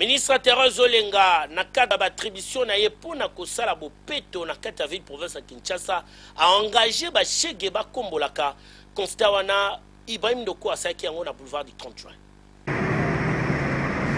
Ministre Therèse Olenga, na cadre ya ba attributions na ye mpo na kosala bopeto na kati ya ville province ya Kinshasa, a engager ba shegue bakombolaka constat wana Ibrahim Ndoko asalaki yango na boulevard du 30 juin.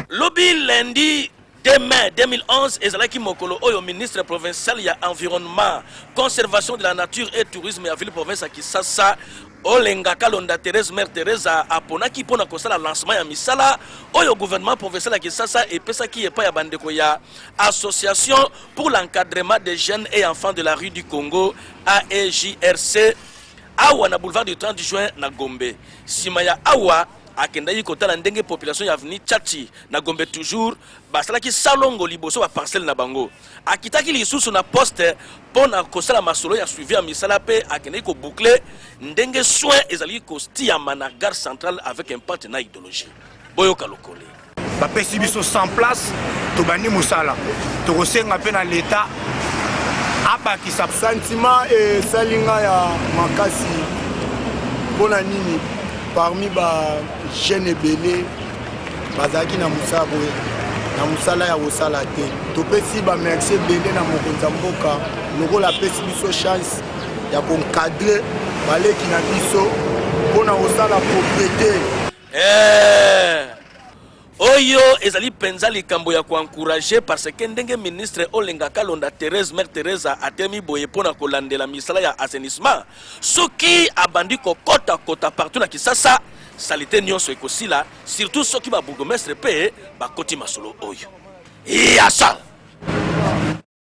Lobi lundi 2 mai 2011 ezalaki mokolo oyo ministre provincial ya Environnement, Conservation de la nature et Tourisme ya ville province ya Kisasa, Olenga Kalonda Therèse Mère Theresa aponaki mpo na kosala lancement ya misala oyo gouvernement provincial ya Kinshasa epesaki epai ya bandeko ya Association pour l'encadrement des jeunes et enfants de la rue du Congo AEJRC awa na boulevard du 30 juin na Gombe. Sima ya awa akendaki kotala ndenge population ya avenue Tchatchi na Gombe toujours basalaki salongo liboso ba parcelle na bango. Akitaki lisusu na poste mpo na kosala masolo ya suivi ya misala mpe akendeki ko boucler ndenge soins ezalaki kostiyama na gare centrale avec impact na idologie. Boyoka lokole. Bapesi biso 100 places, tobandi mosala. Tokosenga mpe na leta abakisa. Sentiment esali nga ya makasi mpo na nini parmi ba jeune ebele bazalaki na mosala boye na mosala ya kosala te topesi bamerci ebele na mokonzi ya mboka lokola apesi biso chance ya konkadre baleki na biso mpo na kosala proprete eh! Oyo ezali mpenza likambo ya ko encourager parce que ndenge ministre Olenga Kalonda Therèse, Mère Theresa, atelemi boye mpo na kolandela misala ya assainissement, soki abandi kokota kota partout na Kisasa, salite nionso ekosila, surtout soki ba bourgmestres mpe bakoti masolo oyo. Yasala!